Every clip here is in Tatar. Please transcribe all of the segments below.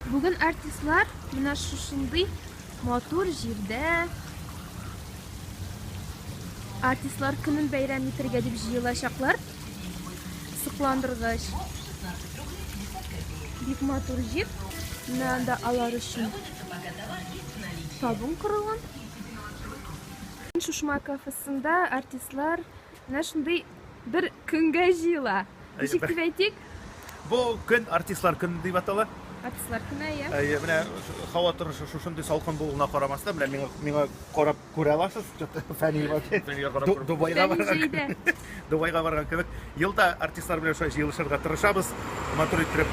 Бүген артистлар менә шушындый матур җирдә артистлар көнен бәйрәм итәргә дип җыелачаклар. Сокландыргыч. Бик матур җир. Менә анда алар өчен табын корылган. Шушма кафесында артистлар менә шундый Бер көнгә җыела. Ничек дип әйтик? Бу көн артистлар көне дип атала. Артистлар көне, әйе. Әйе, менә һава торышы шушындый салкын булуына карамастан, менә миңа миңа карап күрә аласыз, Фәнил вообще. Дубайга барган. Дубайга барган кебек. Елда артистлар белән шулай җыелышырга тырышабыз. Матур итеп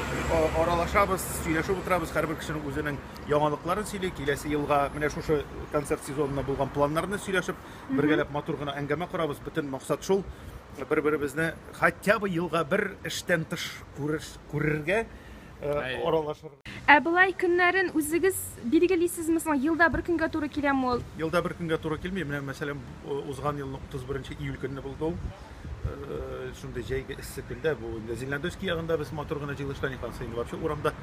аралашабыз, сөйләшеп утырабыз. Һәрбер кешенең үзенең яңалыкларын сөйли. Киләсе елга менә шушы концерт сезонына булган планнарны сөйләшеп Бергәләп матур гына әңгәмә корабыз. Бөтен максат шул. Бер-беребезне хотя бы елга бер эштән тыш күрергә, аралашырга. Ә болай көннәрен үзегез билгелисезме соң? Елда бер көнгә туры киләме ул? Елда бер көнгә туры килми. Менә, мәсәлән, узган елның 31 нче июль көнне булды ул. шундый җәйге эссе көндә бу инде Зеленодольский ягында без матур гына җыелышта не танса инде вообще урамда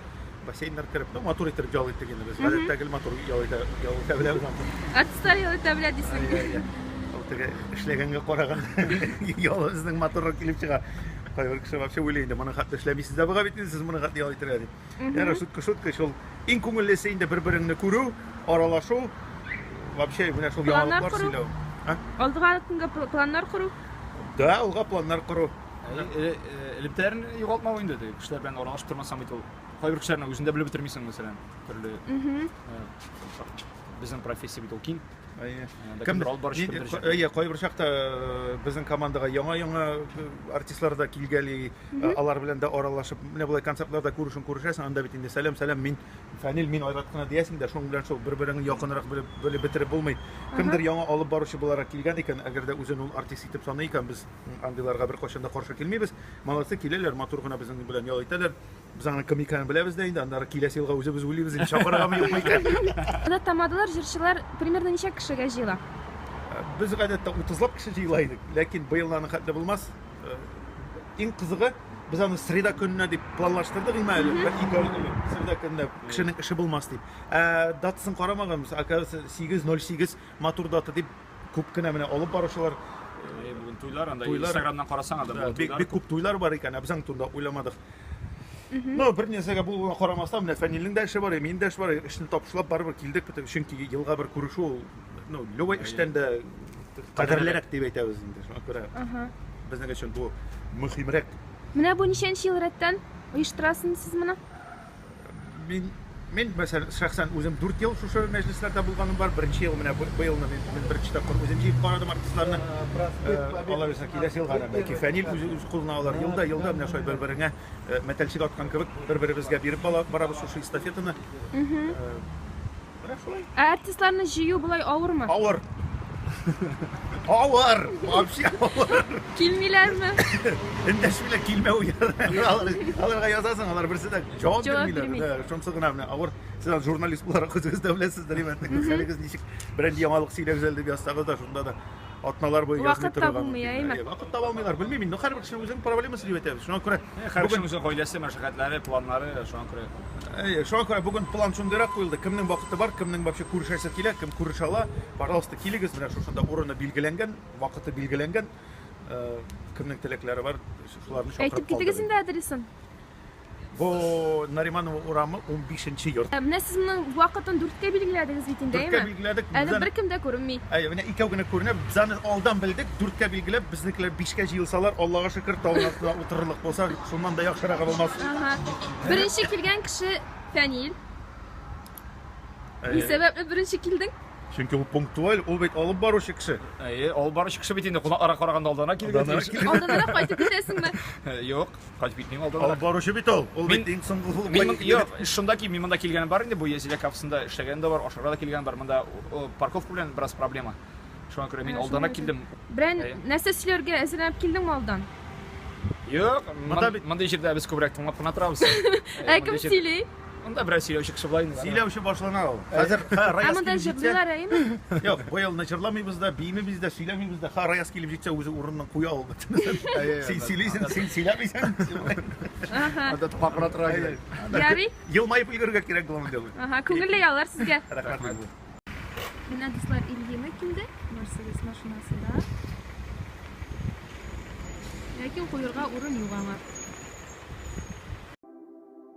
бассейннар кереп, ну, матур итеп ял итте генә без. Гадәттә гел матур ял итә, ял итә белә урамда. Гадәттә ял итә белә дисең. Ул теге эшләгәнгә караган ял безнең матуррак килеп чыга. Кайбер кеше вообще уйлый инде, моны хәтта эшләмисез дә буга бит, сез моны хәтта ял итәргә дип. Яра шутка шутка шул. Иң күңеллесе инде бер-береңне күрү, аралашу. Вообще менә шул яңалыклар сөйләү. Алдыга көнгә планнар кору? Да, алга планнар кору. Элемтәләрен югалтмау инде теге кешеләр белән аралашып тормасаң бит ул. Кайбер кешеләрне үзендә белеп бетермисең, мәсәлән, төрле. Безнең профессия бит ул киң. Кемдер алып баручы кемдер җырлый. Әйе, кайбер чакта э, безнең командага яңа-яңа э, артистлар да килгәли, э, алар белән дә аралашып, менә болай концертларда күрешен күрешәсең, анда бит инде сәлам, сәлам, мин Фәнил, мин Айрат кына диясең дә, шуның белән шул бер-береңне якынрак белеп, белеп бетереп булмый. Кемдер яңа алып баручы буларак килгән икән, әгәр дә үзен ул артист итеп саный икән, без м, андыйларга беркайчан да каршы килмибез. Молодцы, киләләр, матур гына безнең белән ял итәләр. Без аны кем икәнен беләбез дә инде, аннары киләсе елга үзебез уйлыйбыз инде, чакырыргамы юкмы икән. Анда тамадалар, җырчылар примерно ничә кешегә җыела? Без гадәттә утызлап кеше җыела идек, ләкин быел аның хәтле булмас. Иң кызыгы, без аны среда көненә дип планлаштырдык, имә әле, бәлки среда көненә кешенең эше булмас дип. Ә датасын карамаганбыз, оказывается, 8.08 Матур дата дип күп кенә менә алып баручылар Әйе, бүген туйлар, анда Туйлар. инстаграмнан карасаң анда да, бүген бик, туйлар. бик күп туйлар бар икән, ә без аның турында уйламадык. Но бер нәрсәгә булуына карамастан, менә Фәнилнең дә эше бар, минем дә эш бар, эшне табышлап барыбер килдек бит, чөнки елга бер күрешү ул, ну, любой Әйе. эштән дә кадерлерәк дип әйтәбез инде, шуңа күрә Ага. безнең өчен бу мөһимрәк. Менә бу ничәнче ел рәттән оештырасыз сез моны? Мин мин мәсәлән шәхсән үзем 4 ел шушы мәҗлесләрдә булганым бар. Беренче ел менә быелны мин, мин беренче тапкыр үзем җыеп карадым артистларны. Алар үзенә киләсе елга да бәлки Фәнил үз үз кулына алар. Елда елда менә шулай бер-береңә мәтәлчек аткан кебек бер-беребезгә биреп барабыз шушы эстафетаны. Менә шулай. Ә артистларны җыю болай авырмы? Авыр. Авыр. Вообще авыр. Килмиләрме? Эндәшмиләр килмәү Аларга язасың, алар берсе дә җавап бирмиләр. Шунысы гына менә авыр. Сез журналист буларак үзегез дә беләсездер, имәннең хәлегез ничек. Берәр яңалык сөйләгез әле дип язсагыз да, шунда да атналар буе язмый Вакыт торырга табылмый, мөмкиннәр. әйме? Әйе, Вакыт таба алмыйлар. Белмим инде, һәрбер кешенең үзенең проблемасы дип әйтәбез. Шуңа күрә Һәр кешенең үзенең гаиләсе, мәшәкатьләре, планнары, шуңа күрә. Әйе, шуңа күрә бүген план шундыйрак куелды. Кемнең вакыты бар, кемнең вообще күрешәсе килә, кем күрешә ала, пожалуйста, килегез, менә шушында урыны билгеләнгән, вакыты билгеләнгән. Э, Кемнең теләкләре бар, шуларны чакырып Әйтеп китегез калдырыйм. инде адресын. Бу Нариманова урамы унбишенче йорт. Ә менә сез моның вакытын дүрткә билгеләдегез бит инде, әйеме? Дүрткә билгеләдек. Әле беркем дә күренми. Әйе, менә икәү генә күренә. Без аны алдан белдек, дүрткә билгеләп, безнекеләр бишкә җыелсалар, Аллага шөкер, табын астына утырырлык булса, шуннан да яхшырагы булмас. Ага. Беренче килгән кеше Фәнил. Ни сәбәпле беренче килдең? Чөнки ул пунктуаль, ул бит алып баручы кеше. Әйе, алып баручы кеше бит инде кунакларга караганда алданрак килгән. Алданрак кайтып китәсеңме? Юк. Кать бит мин алдым. Алып баручы бит ул. Ул бит иң соңгы ху. Мин юк, шунда ки мин монда килгән бар инде бу Язилә капсында эшләгән дә бар, ашарга да килгән бар. Монда парковка белән бераз проблема. Шуңа күрә мин алданрак килдем. Брен, нәрсә сөйләргә әзерләнеп килдеңме алдан? Юк, монда бит монда җирдә без күбрәк тыңлап кына торабыз. Ә кем сөйли? Анда бераз сөйләүче кеше була инде. Сөйләүче башлана ул. Хәзер Раяз килеп җитсә. Юк, быел начарламыйбыз да, биимибез дә, сөйләмибез дә. Ха Раяз килеп җитсә, үзе урынын куя ул бөтен. Син сөйлисең, син сөйләмисең. Анда тупакра тора. Ярый. Елмаеп өлгергә кирәк булам инде. Ага, күңелле яллар сезгә. Рәхмәт. Менә дуслар Ильина килде, Мерседес машинасында. Ләкин куерга урын юк аңа.